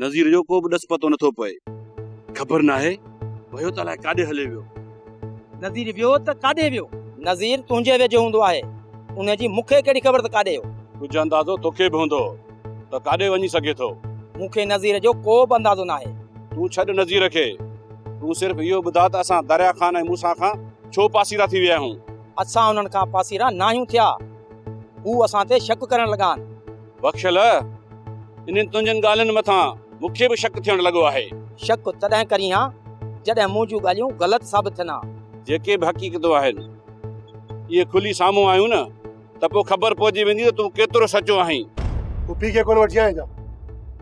نذير جو ڪو به ڏس پتو نه ٿو پئي. خبر ناهي ويو ته الائي ڪاڏي هلي ويو. نذير ويو ته ڪاڏي ويو؟ نذير تنهنجي ويجهو هوندو آهي. ان جي مون کي ڪهڙي خبر ته ڪاڏي ويو. ڪجهه اندازو تو کي به هوندو ته ڪاڏي وڃي سگهي ٿو. مون کي نذير جو ڪو به اندازو ناهي. تون ڇڏ نذير کي. تون صرف اهو ٻڌاء ته اسان دريا خان ۽ موسيٰ کان ڇو پاسيرا ٿي ويا آهيون. اسان انهن کان پاسيرا ناهيون ٿيا. هو اسان تي شڪ ڪرڻ لڳا آهن. بخشل! انهن تنهنجن ڳالهين مٿان مون کي به شڪ ٿيڻ لڳو آهي. شڪ تڏهن ڪرين ها، جڏهن مون جون ڳالهيون غلط ثابت ٿين ها. جيڪي به حقيقتون آهن، اهي کلي سامهون آيون نه، ته پوء خبر پئجي ويندي ته تون ڪيترو سچو آهين. پڦي کي ڪونه وٺي آيا آهيون ڇا؟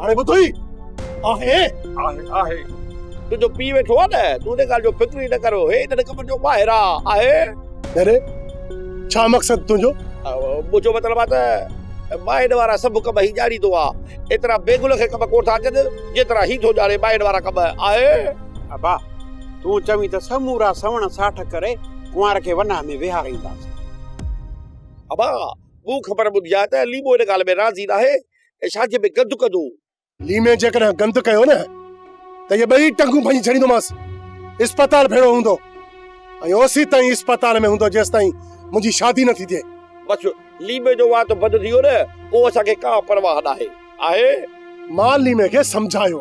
هاڻي ٻڌ هي آهي آهي آهي تنهنجو پيء ويٺو آهي نه تون ان ڳالهه جو فڪر ئي نه ڪر هي هن نڪمن جو ماهر آهي آهي ڏري ڇا مقصد تنهنجو منهنجو مطلب آهي ته ماهين وارا سڀ ڪم هي ڄاڻيندو آهي ايترا بيگل کي ڪم ڪونه ٿا اچن جيترا هي ٿو ڄاڻي ماهين وارا ڪم آهي ابا تون چوين ته سمورا سوڻ ساٺ ڪري ڪنوار کي وناه ۾ ويهارينداسين ابا مون خبر ٻڌي آهي ته ليمو ان ڳالهه ۾ راضي ناهي ۽ شاديء ۾ گند ڪندو هو. ليمي جيڪڏهن گند ڪيو نه ته اهي ٻئي ٽنگون ڀڃي ڇڏيندومانس. اسپتال ڀيڙو هوندو ۽ اوسيت تائين اسپتال ۾ هوندو جيستائين منهنجي شادي نه ٿي ٿئي. بس ليمي جو وات بند ٿي ويو نه پوء اسان کي ڪا پرواهه ناهي. آهي؟ مان ليمي کي سمجهايو.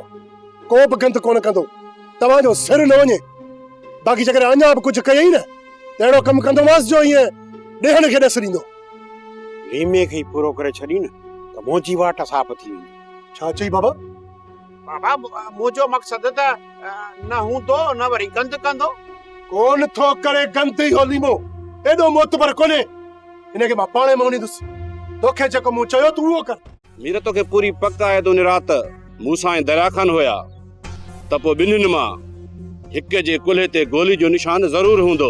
ڪو به گند ڪونه ڪندو. توهان جو سر نه وڃي. باقي جيڪڏهن اڃا به ڪجهه ڪيئي نه ته اهڙو ڪم ڪندومانس جو ايئن ڏيهن کي ڏس ڏيندو. ويمي کي ئي پورو ڪري ڇڏين نه ته منهنجي واٽ ساپ ٿي ويندي. ڇا چئي بابا؟ بابا منهنجو مقصد ته نه هوندو نه وري گند ڪندو. ڪونه ٿو ڪري گند اهو ليمو ايڏو معتبر ڪونهي. هن کي مان پاڻهي مونيندس. توکي جيڪو مون چيو تون اهو ڪر. مير توکي پوري پڪ آهي ته ان رات مون سان ۽ دريا خان هيا ته پوء ٻنهين مان هڪ جي ڪلهي تي گولي جو نشان ضرور هوندو.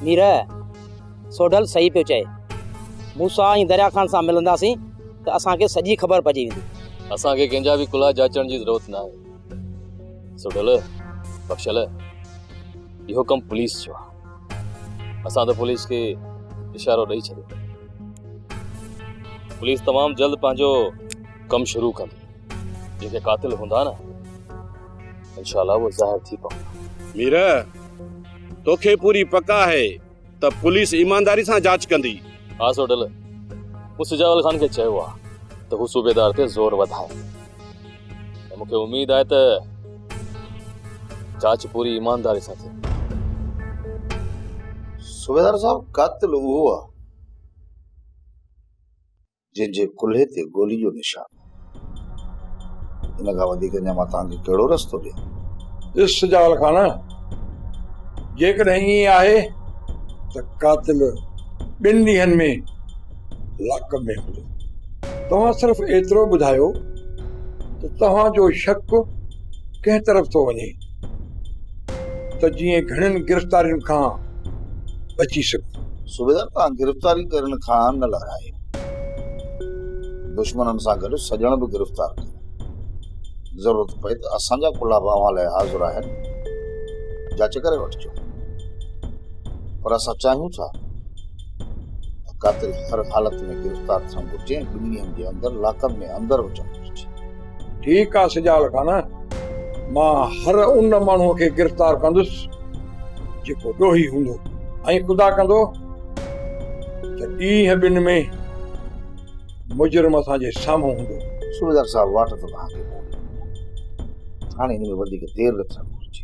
مير، سوڍل صحيح پيو چئي. موسيٰ ۽ دريا خان سان ملنداسين ته اسان کي سڄي خبر پئجي ويندي. اسان کي ڪنهن جا به ڪلها جاچڻ جي ضرورت ناهي. سوڍل، بخشل، اهو ڪم پوليس جو آهي. اسان ته پوليس کي اشارو ڏئي ڇڏيو پوليس تمام جلد پنهنجو ڪم شروع ڪندي جيڪي قاتل هوندا نه انشاء الله اهو ظاهر ٿي پوندا مير توکي پوري پڪ آهي ته پوليس ايمانداري سان جاچ ڪندي ها سوڊل مون سجاول خان کي چيو آهي ته هو صوبيدار تي زور وڌائي مون کي اميد آهي ته جاچ پوري ايمانداري سان ٿي صوبيدار صاحب قاتل اهو آهي جنهن جي ڪلهي تي گولي جو نشان ان کان وڌيڪ اڃا مان توهان کي ڪهڙو رستو ڏيان ڏس سجاول خان جيڪڏهن ائين آهي ته قاتل ٻن ڏينهن ۾ لاڪ ۾ هوندو. توهان صرف ايترو ٻڌايو ته توهان جو شڪ ڪنهن طرف ٿو وڃي ته جيئن گهڻين گرفتارين کان بچي سگهون. صوبيدار توهان گرفتاري ڪرڻ کان نه لارائي دشمنن سان گڏ سڄڻ به گرفتار ڪيا. ضرورت پئي ته اسان جا ڪلها به اوهان لاء حاضر آهن جاچ ڪري وٺجو. پر اسان چاهيون ٿا. قاتل هر حالت ۾ گرفتار ٿيڻ گهرجي ۽ ٻن ڏينهن جي اندر لاڪ اپ ۾ اندر هجڻ گهرجي. ٺيڪ آ سجال خان مان هر ان ماڻهو کي گرفتار ڪندس جيڪو ڏوهي هوندو ۽ خدا ڪندو ته ڏينهن ٻن ۾ مجرم اسان جي سامهون هوندو. صوبيدار صاحب واٽ ته توهان کي موڪلي ڏني آهي هاڻي هن ۾ وڌيڪ دير نه ٿيڻ گهرجي.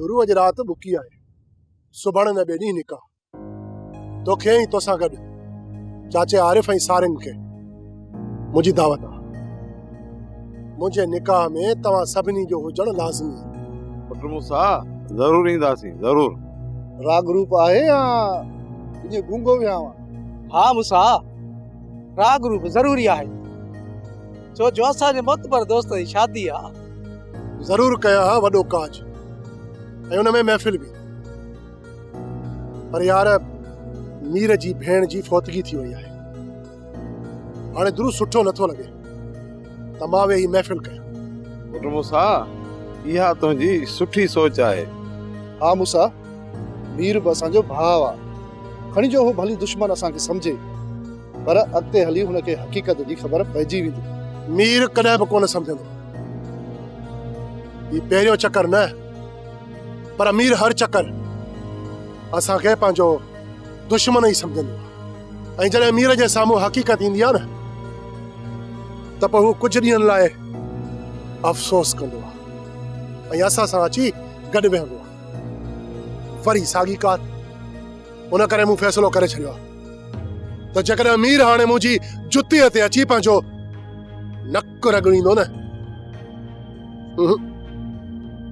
گروء جي رات ٻڪي آهي، سڀاڻي نه ٻئي ڏينهن نڪاح. توکي ۽ توسان گڏ چاچي عارف ۽ سارنگ کي منهنجي دعوت آهي. منهنجي نڪاح ۾ توهان سڀني جو هجڻ لازمي آهي. پٽ موسيٰ، ضرور اينداسين، ضرور. راڳ روپ آهي يا ايئن گونگو ويهانء؟ ها موسيٰ، راڳ روپ ضروري آهي. ڇو جو اسان جي معتبر دوست جي شادي آ. ضرور ڪيا ها وڏو ڪاڄ ۽ ان ۾ محفل به پر يار مير جي ڀيڻ جي فوتگي ٿي وئي آهي هاڻي درست سٺو نٿو لڳي ته مان ويهي محفل ڪيان. پٽ موسيٰ اها تنهنجي سٺي سوچ آهي. ها موسيٰ مير به اسان جو ڀاء آ کڻي جو هو ڀلي دشمن اسان کي سمجهي. پر اڳتي هلي هن کي حقيقت جي خبر پئجي ويندي. مير ڪڏهن به ڪونه سمجهندو. هي پهريون چڪر نه پر مير هر چڪر اسان کي پنهنجو دشمن ئي سمجهندو آهي ۽ جڏهن مير جي سامهون حقيقت ايندي آهي نه ته پوء هو ڪجهه ڏينهن لاء افسوس ڪندو آهي ۽ اسان سان اچي گڏ ويهندو آهي وري ساڳي ڪار ان ڪري مون فيصلو ڪري ڇڏيو آهي ته جيڪڏهن مير هاڻي منهنجي جتيء تي اچي پنهنجو نڪ رڳڙيندو نه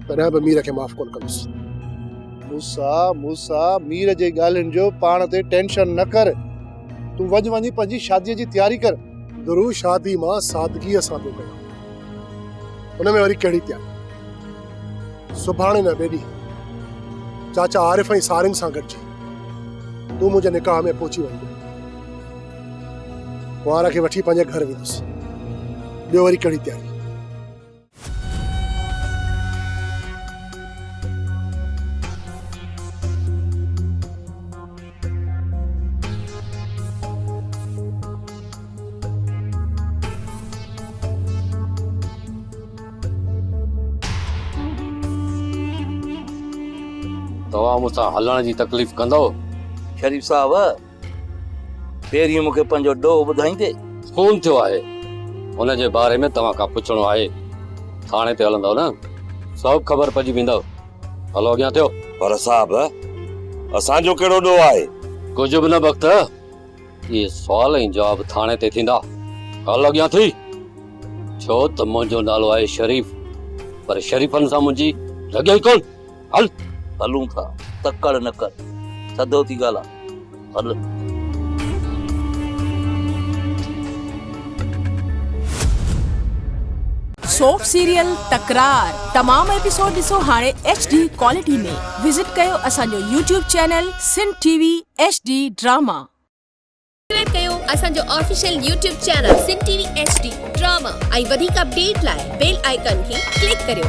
تڏهن به مير کي معاف ڪونه ڪندس موسا موسا مير جي ڳالهين جو پاڻ تي ٽينشن نه ڪر تون وڃ وڃي پنهنجي شادي جي تياري ڪر گرو شادي مان سادگيء سان پيو ڪيان ان ۾ وري ڪهڙي تياري سڀاڻي نه ٻئي ڏينهن چاچا عارف ۽ سارين سان گڏجي تون منهنجي نڪاح ۾ پهچي وڃ ڪنوار کي وٺي پنهنجي گهر ويندس ٻيو وري ڪهڙي تياري توهان مون سان هلڻ جي تڪليف ڪندو شريف صاحب پهرين مون کي پنهنجو ڏوهه ٻڌائيندي خون ٿيو آهي ان جي باري ۾ توهان کان پڇڻو آهي ٿاڻي تي هلندو نه سڀ خبر پئجي ويندو هلو اڳيان ٿيو. پر صاحب اسان جو ڪهڙو ڏوهه آهي. ڪجهه به نه بخت اهي سوال ۽ جواب ٿاڻي تي ٿيندا. هل اڳيان ٿي ڇو ته منهنجو نالو آهي شريف پر شريفن سان منهنجي لڳي ئي ڪون. هل. هلون ٿا تڪڙ نه ڪر سڌو ٿي ڳالهاء. سوپ سيريل تڪرار تمام ايپيسوڊ ڏسو هاڻي ايڇ ڊي ڪوالٽي ۾ وزٽ ڪيو اسان جو YouTube channel Sindh T V H D drama. Subscribe ڪيو اسان جو official YouTube channel Sindh T V H D drama ۽ وڌيڪ اپڊيٽ لاء بيل آئيڪان کي ڪلڪ ڪريو.